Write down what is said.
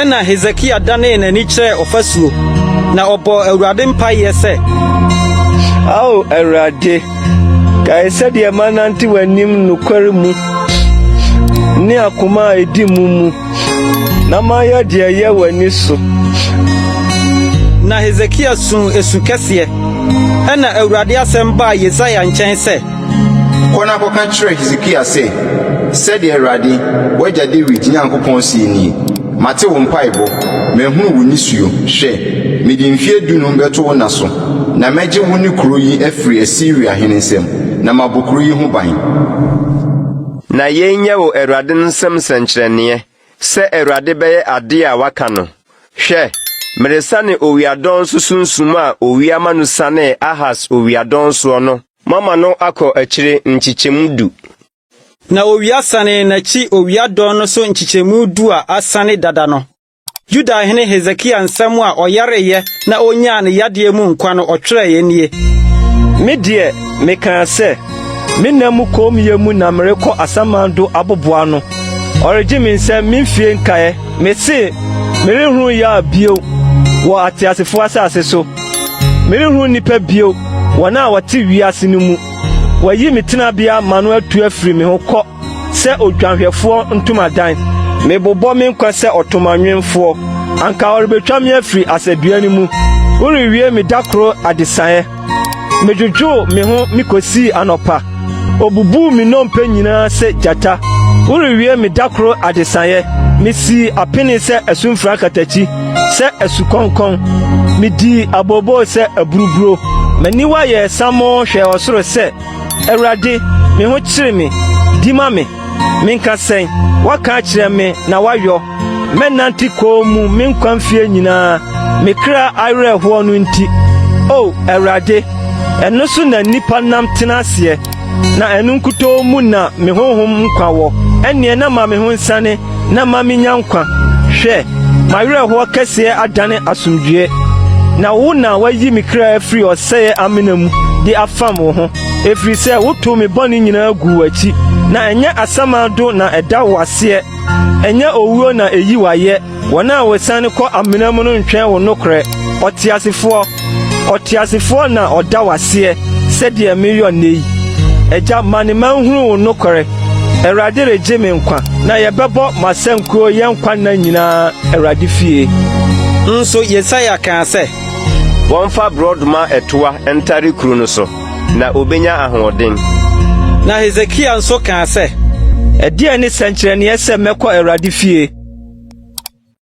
Ɛnna Hesekia danee n'ani kyerɛɛ ɔfasuo, na ɔbɔɔ Awurade mpaeɛ sɛ. Ao Awurade, kae sɛdeɛ manante w'anim nokware mu ne akoma a ɛdi mu mu, na mayɛ deɛ ɛyɛ w'ani so. Na Hesekia suu esu kɛseɛ. Ɛnna Awurade asɛm baa Yesaia nkyɛn sɛ. Kɔ na kɔka kyerɛ Hesekia sɛ, 'Sɛdeɛ Awurade, w'agya Dawid Nyankopɔn seɛ nie, Mate wo mpaeɛbɔ, mahunu wo nisuo. Hwɛ, mede mfeɛ dunum bɛto wo nna so, na mɛgye wo ne kuro yi afiri Asiria hene nsam, na mabɔ kuro yi ho ban. Na yei nyɛ wo Awurade no nsam sɛnkyerɛnneɛ sɛ Awurade bɛyɛ adeɛ a waka no. Hwɛ, meresane owiadɔnso sunsum a owia ma no sanee Ahas owiadɔnsoɔ no. Moama no akɔ akyire nkyekyɛmu du. Na owia sanee n'akyi owia dɔn no so nkyekyɛmu du a asane dada no. Yuda hene Hesekia nsɛm a ɔyareeɛ na ɔnyaa ne yadeɛ mu nkwa no ɔtwerɛeɛ nie. Me deɛ, mekaa sɛ, 'Me nna mu kommyɛ mu na merekɔ asaman do aboboa no, ɔregye me nsam me mfie nkaeɛ. Mesee, 'Merenhunu yea bio wɔ ateasefoɔ asase so. Merenhu nnipa bio, wɔn a wɔte wiase no mu. Wɔayi me tenabea ma no atu afiri me ho kɔ sɛ odwanhwɛfoɔ ntomadan. Mebobɔ me nkwa sɛ ɔtomanwemfoɔ. Anka wɔrebɛtwa me afiri asadua no mu. Worewie me da koro adesaeɛ. Medwodwoo me ho me kɔsii anɔpa. Obubuu me nnompe nyinaa sɛ gyata. Worewie me da koro adesaeɛ. Misii apene sɛ asumfra katakyi, sɛ asukɔnkɔn. Midii abooboo sɛ aburuburo. M'aniwa yɛɛ samoo hwɛɛ ɔsoro sɛ, Awurade, me ho kyere me. Di ma me. Menka sɛn? Woaka akyerɛ me na woayɔ. Mɛnante kɔn mu me nkwa mfie nyinaa, me kra awerɛhoɔ no nti. O Awurade, ɛno so na nnipa nam tena aseɛ, na ɛno nkutoo mu na me honhom nkwa wɔ. Ɛnneɛ na ma me ho nsane na ma menya nkwa. Hwɛ, m'awerɛhoɔ kɛseɛ adane asomdwoeɛ, na wo na woayi me kra afiri ɔsɛeɛ amena mu de afam wo ho. Ɛfiri sɛ wotow me bɔne nyinaa guu w'akyi, na ɛnyɛ asamando na ɛda wo aseɛ, ɛnyɛ owuo na ɛyi wo ayɛ. Wɔn a wɔsiane kɔ amena mu no ntwɛn wo nokorɛ. Ɔteasefoɔ, ɔteasefoɔ na ɔda wo aseɛ sɛdeɛ mereyɔ nnɛ yi. Agya, ma ne mma nhunu wo nokorɛ. Awurade regye me nkwa, na yɛbɛbɔ m'asankuo yɛn nkwa nna nyinaa Awurade fie. Nso Yesaia kaa sɛ, Wɔmfa borɔdɔma ɛtoa ntare kuru no so, na obenya ahoɔden. Na Hesekia nso kaa sɛ, Ɛdeɛn ne sɛnkyerɛnneɛ sɛ mɛkɔ Awurade fie?